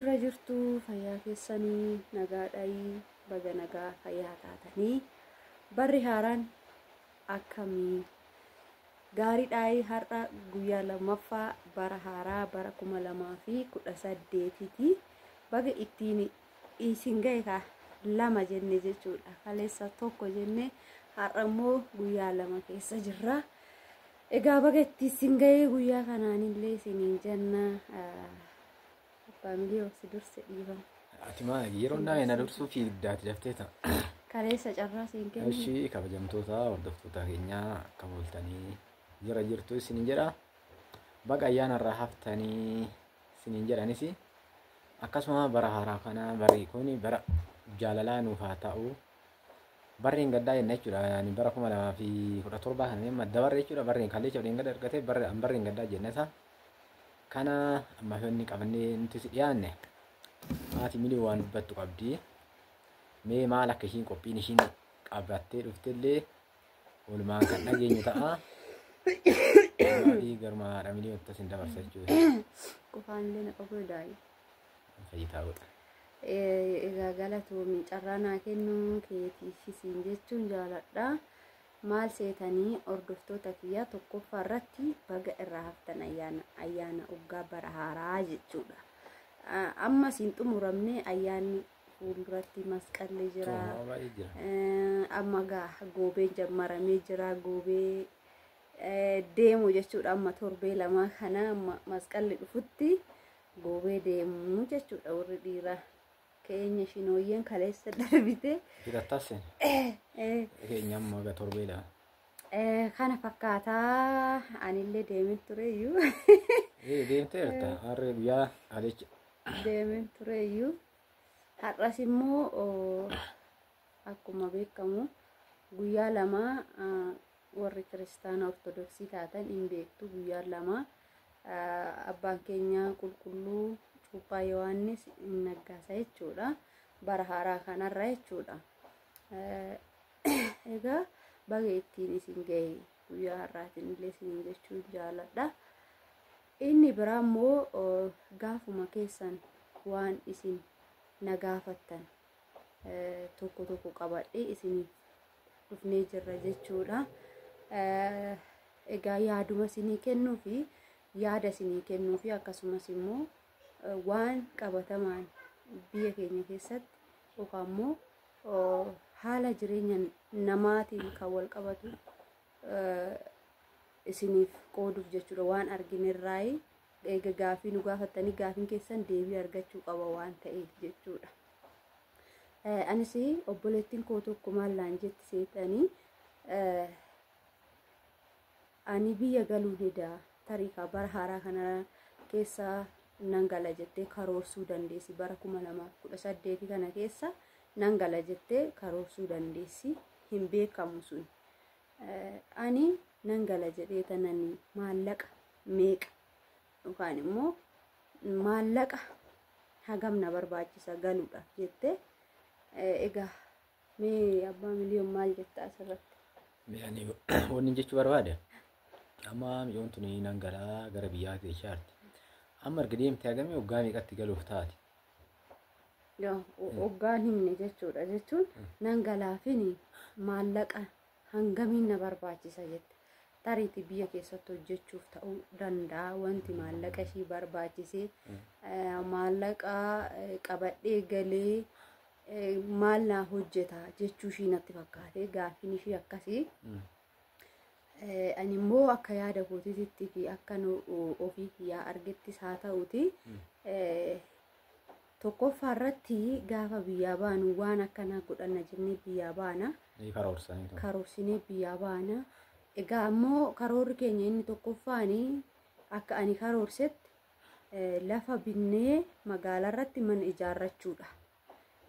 irra jirtu fayyaa keessanii nagaadhaayii baga nagaa fayyaa taatanii barri haaraan akkamii gaariidhaayii har'a guyyaa lammaffaa bara haaraa bara kuma lamaa fi kudha saddeetiiti baga ittiin isin gahekaa lama jenne jechuudha kaleessa tokko jenne har'a immoo guyyaa lama keessa jirra egaa baga ittiin isin gahee guyyaa kanaanillee isiniin jenna Abbaa miliyoo si durse dhiifama. Ati maa yeroo naa ena dursuu fiigdaati daftee ta'a. Kaleessa carraa siin kennu. Ishii kabajamtoota hordoftoota keenyaa akka bultanii jira jirtu isiniin jedha. Baga ayyaana irraa haftanii isiniin jedhanis akkasuma bara haaraa kana barri kun bara jaalalaa nuuf haa ta'u. Barri hin gaddaa jenna jechuudha. Ani bara kuma lamaa fi kudha torbaa kana madda barri jechuudha. Barri hin kalleecha hin gadda argate barri hin gaddaa jenna isaa. Kana amma inni qabannee nuti si dhiyaanne haati milii waan dubbattu qabdi. Mee maal akka ishiin qophiin ishiin qabattee dhuftellee walumaan kan dhageenyu ta'a. Maatii garuma haadha milii wanta isin dabarsa jechuudha. Qofaan illee na qabuu daa'i. Fayyitaa godha. Egaa galatoomi carraa naa kennuu keetiifis siin jechuun jaaladha. Maal seetanii hordoftoota kiyyaa tokkoffaa irratti baga irraa haftan ayyaana ayyaana oggaa bara haaraa jechuudha. Ah, Ammas hin xumuramne ayyaanni fuulduratti masqalli jira. Xumuramaa jira. Eh, Amma gaa goobeen jammaramee jira goobee eh, deemu jechuudha amma torbee lamaa kana amma masqalli dhufutti goobee deemu jechuudha warri dhiiraa. keenya shinooyyeen kaleessa darbite Hidhattasse Eh, eh, keenya amma aga torbee lama. eh, kana fakkaataa anillee deemin tureyyuu Ee deemteerta harree guyyaa adeecha. deemin tureyyuu har'as immoo oo, akkuma beekamu guyyaa lama ah, warri kiristaana ortodoksii taatan hin beektu guyyaan lama abbaan keenya qulqulluu cuuphaa yohaannis hin naggaasa jechuudha bara haaraa kanarra jechuudha egaa baga ittiin isin ga'e guyyaa har'aatiin illee isin jechuun jaaladha inni biraa immoo gaafuma keessan waan isin na gaafattan tokko tokko qabadhee isiniif dhufnee jirra jechuudha. Egaa yaaduma isinii kennuu fi yaada isinii kennuu fi akkasumas immoo waan qabatamaan biyya keenya keessatti yookaan immoo haala jireenya namaatiin kan wal qabatu isiniif qooduuf jechuudha waan arginerraayi eega gaafii nu gaafattanii gaafiin keessan deebii argachuu qaba waan ta'eef jechuudha. Anis obboleettiin koo tokko maal naan jetti seexanii ani biyya galuu dida tarii kaa bara haaraa kana keessa nan gala jettee karoorsuu dandeessi bara kuma lamaaf kudha saddeeti kana keessa nan gala jettee karoorsuu dandeessi hin beekamu sun ani nan gala jedhee tanani maallaqa meeqa yookaan immoo maallaqa hagam na barbaachisa galuudhaaf jettee egaa mee abbaa miliyoon maal jetta asirratti? Ani wanni jechuu barbaade amma miliyoon tuni nan galaa gara biyyaa keessaatti. Amma erga deemtee hagamee waggaa meeqatti galuuf taate? Waggaan himne jechuudha jechuun nan galaafini maallaqa Hangamiin na barbaachisa jette. Tariiti biyya keessatti hojjechuuf ta'uu danda'a wanti maallaqa ishii barbaachisee eh, maallaqa eh, qabadhee galee eh, maal naa hojjeta jechuu ishii natti fakkaate gaaffiin ishii akkasii. Eh, ani immoo akka yaada kootiitti fi akka nu ofii kiyyaa argettis haa ta'uti eh, tokkoffaa irratti gaafa biyyaa baanu waan akkanaa godhanna jennee biyyaa baana Ni karoorsanii ture. karoorsinee biyyaa baana egaa ammoo karoorri keenya inni tokkoffaan akka ani karoorsetti eh, lafa binnee magaalaa irratti mana ijaarrachuudha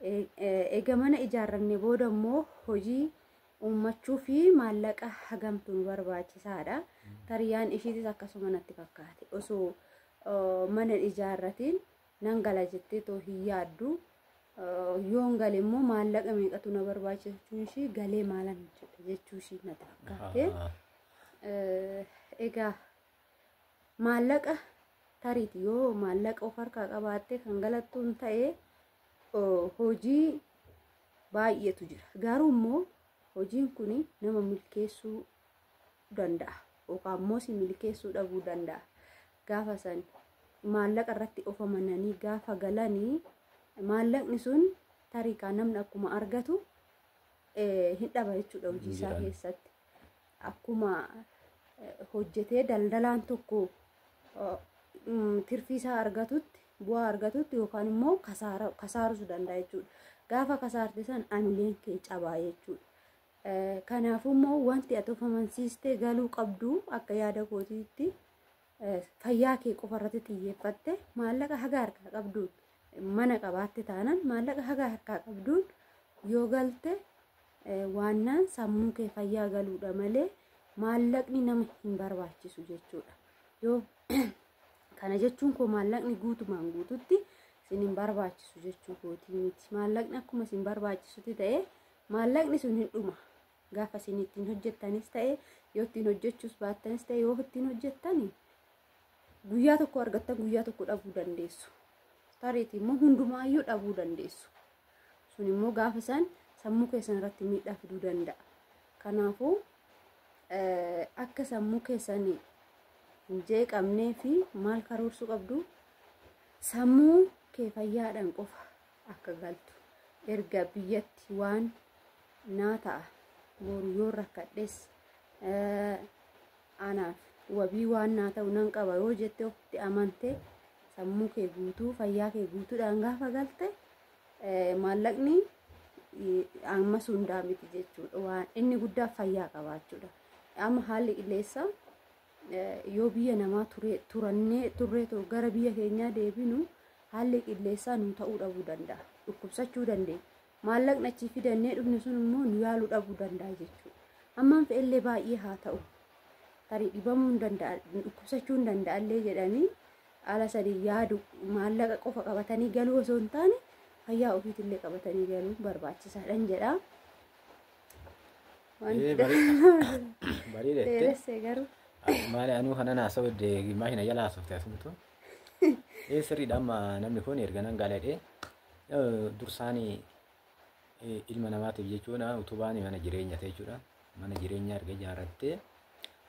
E- eh, egaa mana ijaarranne booda immoo hojii uummachuu fi maallaqa hagamtu nu barbaachisaadha. Tariyaan ishiitis akkasuma natti fakkaate. Osoo eh, mana hin ijaarratiin nan gala jettee too hin yaaddu. Eh, Yoon gale immoo maallaqa meeqatu na barbaachisa jechuun ishii galee maalan hojjedha jechuu ishii natti fakkaate. Ahaa. Eh, Egaa maallaqa tariiti yoo maallaqa of harkaa qabaattee kan galattuun ta'e oh, hojii baay'eetu jira. Garuu immoo hojiin kun nama milkeessuu danda'a. Yookaan immoo si milkeessuu dhabuu danda'a. Gaafa san maallaqa irratti of amananii gaafa galanii maallaqni sun tarikaa namni akkuma argatu hin dhaba jechuudha hojii isaa keessatti. Akkuma hojjetee daldalaan tokko tirfii isaa argatutti bu'aa argatutti yookaan immoo kasaarus danda'a jechuudha. Gaafa kasaarte san amileen kee cabaa jechuudha. Kanaafuu immoo wanti ati of amansiistee galuu qabdu akka yaada kootiitti fayyaa kee qofa irratti xiyyeeffatte maallaqa haga harkaa qabduun mana qabaatte taanaan maallaqa haga harkaa qabduun yoo galte waannaan sammuu kee fayyaa galuudha malee maallaqni nama hin barbaachisu jechuudha. Yoo kana jechuun koo maallaqni guutumaan guututti isin hin barbaachisu jechuu kootii miti. Maallaqni akkuma isin barbaachisutti ta'ee maallaqni sun hin dhuma. gaafa isin ittiin hojjettanis ta'e yoo ittiin hojjechuus baattanis ta'e yoo ittiin hojjettan guyyaa tokko argattan guyyaa tokko dhabuu dandeessu. Tariitii immoo hundumaayyuu dhabuu dandeessu. Sun immoo gaafa san sammuu keessan irratti miidhaa fiduu danda'a. Kanaafuu akka sammuu keessan hin jeeqamnee fi maal karoorsuu qabdu sammuu kee fayyaadhaan qofa akka galtu erga biyyatti waan naa ta'a boru yoo rakkadhes anaaf wabii waan naa ta'u nan qaba yoo jette ofitti amante sammuu kee guutuu fayyaa kee guutuudhaan gaafa galte maallaqni ammas hundaa miti jechuudha waan inni guddaa fayyaa qabaachuudha amma haalli qilleensa yoo biyya namaa turannee turree gara biyya keenyaa deebinu haalli qilleessaa nu ta'uu dhabuu danda'a. Dhukkubsachuu dandeenya. Maallaqni achii fidannee dhufne sun immoo nu yaaluu dhabuu danda'a jechuudha. Hammaan fe'ellee baay'ee haa ta'u. Tarii dhibamuu hin danda'a, dhukkubsachuu hin danda'a illee jedhanii haala sanii yaadu maallaqa qofa qabatanii galuu osoo hin taane fayyaa ofiitillee qabatanii galuun barbaachisaadhan jedha. Ee, barii- barii dheettee. dheeressee garuu Maali anuu kana naasoo deegimaa hin ayyaala haasofte asumtu. Ee sirriidha amma namni kun erga nan gaaladhee dursaani eh, ilma namaatiif jechuudha utubaan mana jireenya ta'e jechuudha. Mana jireenyaa erga ijaarrattee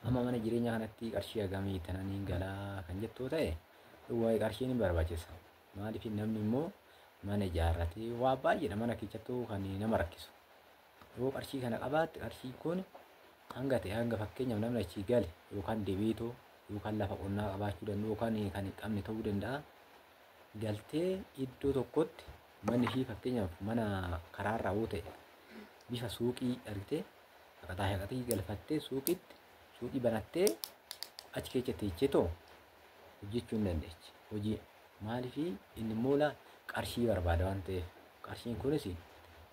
amma mana jireenyaa kanatti qarshii hagamii tananiin galaa kan jettuu ta'e waa'ee qarshiin hin barbaachisa. Maaliif namni immoo mana ijaarratee waa baay'eedha mana keessattuu kan nama rakkisu. Yoo qarshii kana qabaatte qarshii kun hanga ta'e hanga fakkeenyaaf namni achii gale yookaan debiitoo yookaan lafa qonnaa qabaachuu danda'u yookaan kan hin qabne ta'uu danda'a. Galtee iddoo tokkotti manni ishii fakkeenyaaf mana karaarraa yoo ta'e bifa suuqii argitee shaqaxaa shaqaxii galfattee suuqiitti suuqii banattee achi keessa teechee too hojjechuu hin dandeechi. Hojii maaliif inni moola qarshii barbaada waan ta'eef qarshiin kunis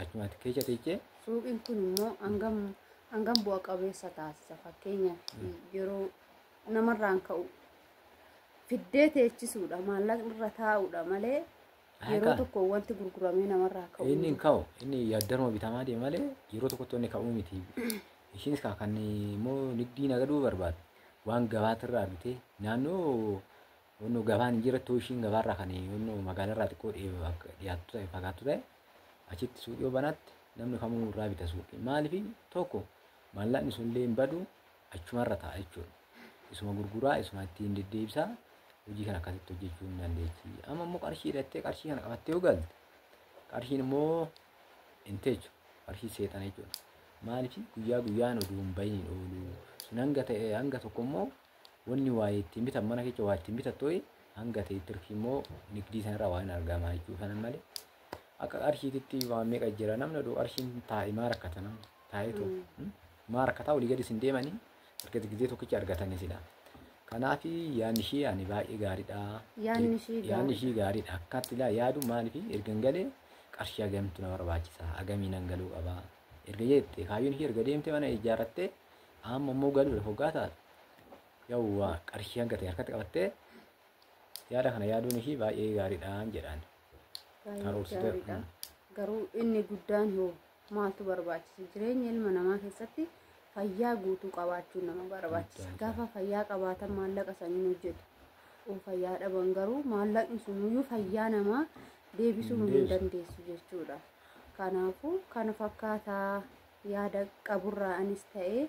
Achumatti keessa teechee Suuqiin kun immoo hangam hangam bu'a qabeessa taasisa fakkeenyaaf yeroo namarraan ka'u fiddee teechisuudha maallaqni irra taa'uudha malee yeroo Haqaa. tokko wanti gurguramee namarraa ka'u inni hin ka'u inni yaaddaruma bitamaa deema malee yeroo tokkotti inni ka'uu miti. Ishiinis kaa kan immoo nigdii nagaduu barbaadu waan gabaatirraa argitee naannoo Wannoo gabaan hin jirattu ishiin gabaarraa kan wannoo magaalarraa xiqqoo dhiyaattu ta'e fagaattu ta'e achitti suuqii yoo banaatti namni kamuu irraa bita suuqii. Maaliif tokko maallaqni sunillee hin badu achumarra ta'a jechuudha. Isuma gurguraa isuma ittiin deddeebisaa hojii kana akkasitti hojjechuu hin dandeessi. Amma immoo qarshii hidhattee qarshii kana qabattee yoo galte qarshiin immoo hin teechu qarshii seexana jechuudha. Maaliif guyyaa guyyaan oduu hin bahin hin oolu. Sun hanga ta'e hanga tokko immoo wanni waa ittiin bitan mana kecha waa ittiin bitattu hanga ta'e tirfii immoo nigdii sanarraa waa hin argamaa jechuu kanan malee akka qarshiititti waa meeqa jira namni oduu qarshiin taa'e maa rakkata namni taa'eetu maa rakkataa olii gadi isin deemanii erga gizee tokkicha argatanii sila kanaaf yaadni ishii ani baay'ee gaariidha Yaadni ishii gaariidha. yaadni ishii gaariidha akkaatti ilaa yaadu maaliif ergan galee qarshii hagamtu na barbaachisa hagamii nan galuu qaba erga jette kaayyoon ishii erga deemte mana ijaarrattee Amma immoo galuudhaaf hoggaa taatu yawwa qarshii hanga ta'e harkatti qabattee yaada kana yaaduun ishii baay'ee gaariidhaan jedhaan. Baay'ee Karoorsitee- gaariidha. Mm. Garuu inni guddaan hoo maaltu barbaachisa? Jireenya ilma namaa keessatti fayyaa guutuu qabaachuun nama barbaachisa. Guddaan Gaafa fayyaa qabaatan maallaqa san hin hojjetu. Yoo fayyaa dhaban garuu maallaqni sunuyyuu fayyaa namaa deebisuu Hin hin deebisu. dandeessu jechuudha. Kanaafuu kana fakkaataa yaada qaburraa anis ta'ee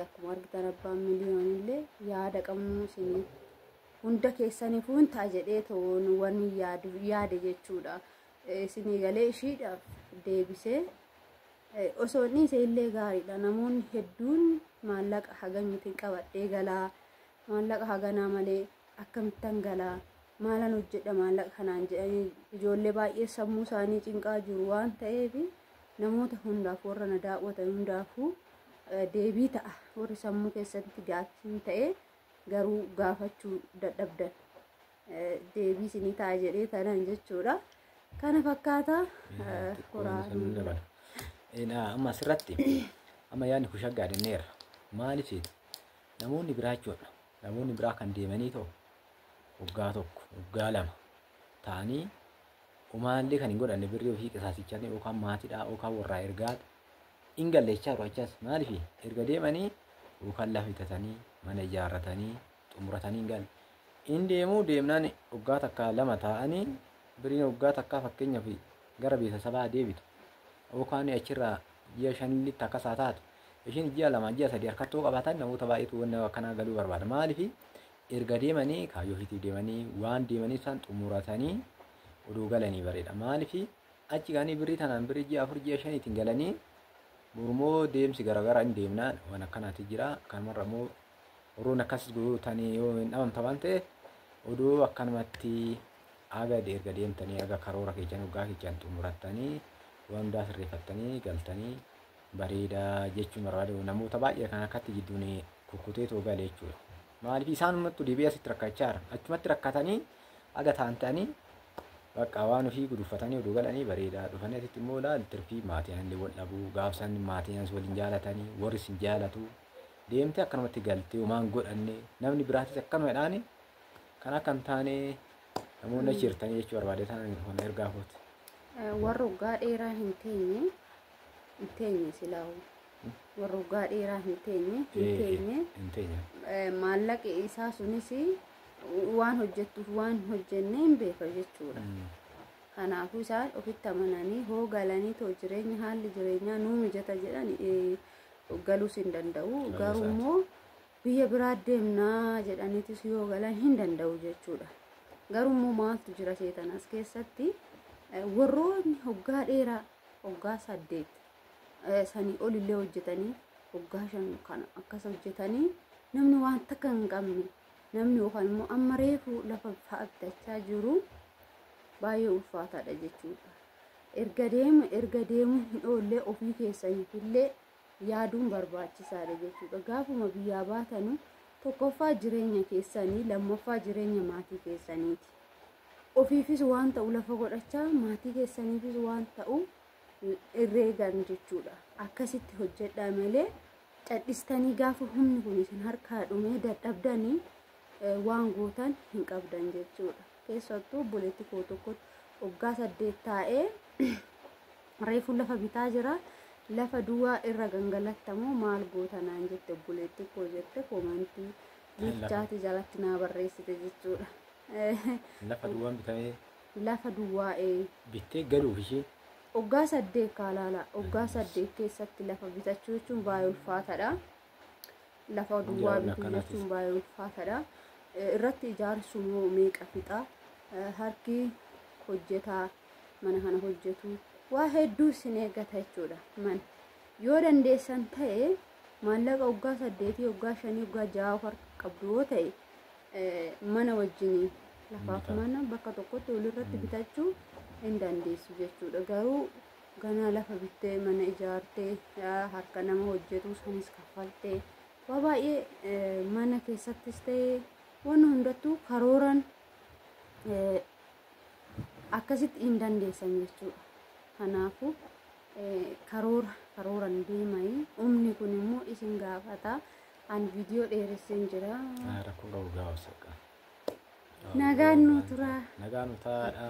akkuma argitan abbaan miliyoonillee yaada qabnu isin hunda keessaniifuu hin ta'a jedhee ta'uun waan yaadu yaade jechuudha. Isin eegalee ishiidhaaf deebisee osoo inni isa illee gaariidha. Namoonni hedduun maallaqa hagamiti qabadhee galaa Maallaqa haganaa malee akkamittan gala? Maalan hojjedha maallaqa kanaan jedhanii ijoollee baay'ee sammuu isaanii cinqaa jiru waan ta'eef namoota hundaaf warra na daawwatan hundaafuu deebii ta'a. Warri sammuu keessatti gaaffii ta'ee garuu gaafachuu dadhabdan deebii isinii ta'a jedhee tanan jechuudha. Kana fakkaata horaa. Amma asirratti amma yaadni kun shaggaa jenneerra. Maaliif Namoonni biraa jechuudha. Namoonni biraa kan deemanii ta'u waggaa tokko, waggaa lama ta'anii umaallee kan hin godhanne birrii ofii qisaasichaan yookaan maatiidhaa yookaan warraa ergaa hin galleechaa jiru achas maaliif erga deemanii yookaan lafa bitatanii mana ijaarratanii xumuratanii hin galle. Hin deemuu deemnaan waggaa takkaa lama taa'anii birriin waggaa takkaa fakkeenyaaf gara beeksisabaa deebitu yookaan achirraa ji'a shanitti akkas haa taatu. Ishiin ji'a lama ji'a sadii harkatti yoo qabaatan namoota baay'eetu wanna akkanaa galuu barbaada. Maaliif erga deemanii kaayyoo ofiitiif deemanii waan deemanii isaan xumuratanii odoo galanii bareeda. Maaliif achi gahanii birrii tanaan birrii ji'a afur ji'a shaniitiin galanii mormoo deemsi garaagaraa hin deemna waan akkanaati jira. Kanumarra immoo warroonni akkas gootanii yoo hin dhabamta waan ta'eef odoo akkanumatti Haga erga deemtanii haga karoora keessan hoggaa keessan xumurattanii waan hundaa sirreeffattanii galtanii bareeda jechuun barbaade namoota baay'ee kan harkatti jidduun kukkutee too gale jechuudha. Maaliif isaanummattu deebi'ee asitti rakkachaa jira. Achumatti rakkatanii haga taantanii bakka waan ofii guduffatanii oduu galanii bareedaa dhufanii asitti immoo laal tirfii maatiin illee wal dhabuu gaafsan maatiin as waliin jaalatanii warri sin jaalatu deemtee akkanumatti galtee homaan godhanne namni biraatis akkanuma jedhaani Kan akka hin taane namoonni achi jirtanii jechuu barbaade tanan kun ergaa kooti. Warra waggaa dheeraa hin teenye hin teenye silaa warra waggaa dheeraa hin teenye hin Eh, teenye Hin teenye. eh, maallaqi isaa sunis waan hojjettuuf waan hojjenne hin beeka jechuudha. Mm. Kanaafuu isaan ofitti amananii hoo galanii too jireenya haalli jireenyaa nuu mijata jedhan eh, galuus hin danda'u. Garuu immoo biyya biraa deemnaa jedhaniitis yoo galan hin danda'u jechuudha. Garuu immoo maaltu jira seetan as keessatti warroonni hoggaa dheeraa hoggaa saddeet sanii olillee hojjetanii hoggaa shan kana akkas hojjetanii namni waan takka hin qabne namni yookaan immoo amma reefu lafa fa'attachaa jiru baay'ee ulfaataadha jechuudha. Erga deemu erga deemu hin oollee ofii keessaniifillee yaaduun barbaachisaadha jechuudha. Gaafuma biyyaa baatanu tokkoffaa jireenya keessanii lammaffaa jireenya maatii keessaniiti. Ofiifis waan ta'u lafa godhachaa maatii keessaniifis waan ta'u herreegan jechuudha. Akkasitti hojjedhaa malee cadhistanii gaafa humni kun isin harkaa dhumee dadhabdanii waan gootan hin qabdan jechuudha. keessattuu obboleetti koo tokkotti waggaa saddeet taa'ee reefuu lafa bitaa jira lafa duwwaa irra gangalattamoo maal goota naan jette obboleetti koo jette koomantii liichaati jalatti naa barreessite jechuudha. Lafa duwwaan bitamee Lafa duwwaa ee bittee galuuf ishee waggaa saddeet kaalaala waggaa saddeet keessatti lafa bitachuu jechuun baay'ee ulfaataadha. lafa duwwaa Ijaarsa bituu akkanaatiif. jechuun baay'ee ulfaataadha. Eh, Irratti ijaarsuun hoo meeqa fixa? Eh, Harki hojjetaa mana kana hojjetu waa hedduu isin eeggata jechuudha. Man yoo dandeessan ta'e maallaqa waggaa saddeetii, waggaa shanii, waggaa ja'a of harka qabdu yoo ta'e eh, mana wajjinii lafaaf Bitaa. mana bakka tokkotti walirratti bitachuu hin dandeessu jechuudha. Garuu ganaa lafa bittee mana ijaartee harka nama hojjetuu sanis kaffaltee waa baay'ee mana keessattis ta'e waan hundattuu karooran akkasitti hin dandeessan jechuudha. Kanaafuu karoora karooran deemai umni kun immoo isin gaafata an viidiyoo dheeresseen jira. Rakkoo qabu gaafsa. Nagaan nu turaa. Nagaan nu taa'aadha.